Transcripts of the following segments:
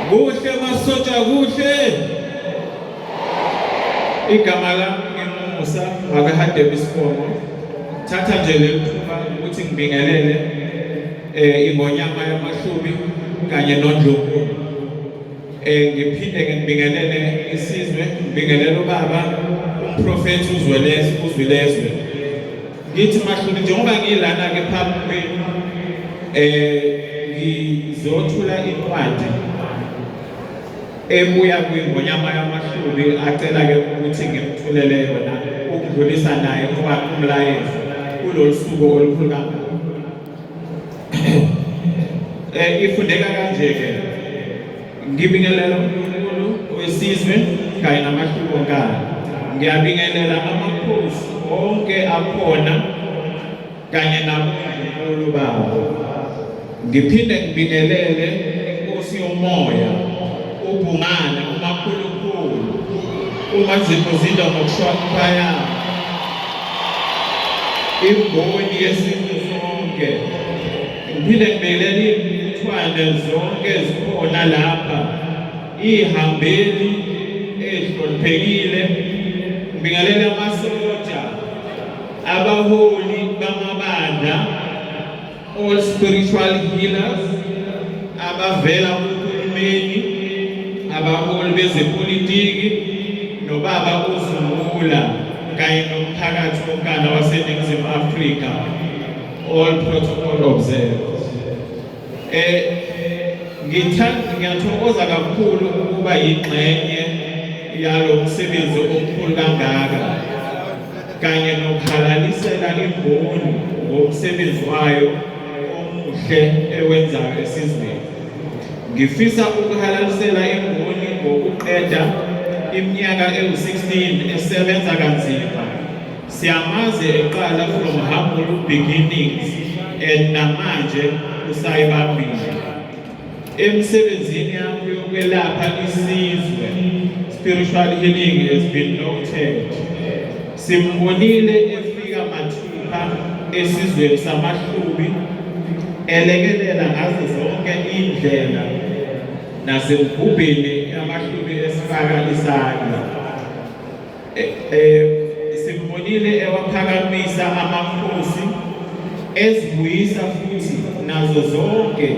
Kuhle masotsha kuhle. Igama lami ngimusa akahadebe isifongo. Thatha nje leli thuba ukuthi ngibingelele eh ingonyama yamahlubi kanye nondlovu. Eh ngiphinde ke ngibingelele isizwe, ngibingelele ubaba umprofethi uzwelezwe uzwilezwe. Ngithi mahluli njengoba ngilana-ke phambi kwenu um ngizothula incwadi ebuya kwingonyama yamahluli acela-ke ukuthi ngimthulele yona ukudlulisa naye ngoba umlayezo kulolu suku olukhulu kangaka um ifundeka kanje-ke Ngibingelela uNkulunkulu wesizwe kanye namahluko kayo. Ngiyabingelela amakhosi onke akhona kanye nabomkhulu bawo. Ngiphinde ngibingelele inkosi yomoya ubhungane umakhulukhulu uma ziphuzile ngokuhlonipha yabo imboni yesintu sonke Ngiphinde ngibekele imithwane zonke ezikhona lapha ihambeli ezihloniphekile ngibingelela amasotsha abaholi bamabandla all spiritual healers abavela kuhulumeni abaholi bezepolitiki nobaba uzungula kanye nomphakathi wonkana waseningizimu afrika All protocol observed. Eh ngithanda ngiyathokoza kakhulu ukuba yingxenye yalo msebenzi omkhulu kangaka kanye nokhalalisela imboni ngomsebenzi wayo omuhle ewenzayo esizweni. Ngifisa ukuhalalisela imboni ngokuqeda iminyaka ewu-16 esebenza kanzima Siyamazi eqala from humble beginnings and namanje usayibambile emsebenzini yakho yokwelapha isizwe spiritual healing has been noted simbonile efika mathupha esizweni samahlubi elekelela ngazo zonke indlela nasemgubheni yamahlubi esifaka isandla Simbonile ewaphakamisa amakhosi ezibuyisa futhi nazo zonke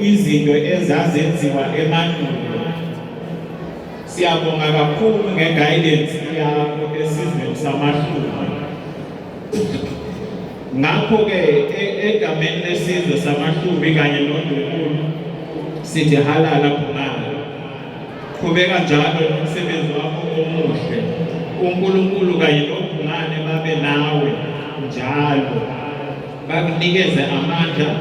izinto ezazenziwa emandulo. Siyabonga kakhulu nge-guidance yakho esizweni samahluma. Ngakho-ke e-, egameni lesizwe samahlumi kanye nondukulu sithi halala khona Qhubeka njalo nomsebenzi wakho omuhle. UNkulunkulu kanye nobungane babe nawe njalo. Bakunikeze amandla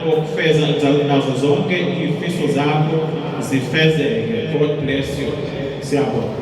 okufeza nazo zonke izifiso zakho zifezeke. God bless you. Siyabonga.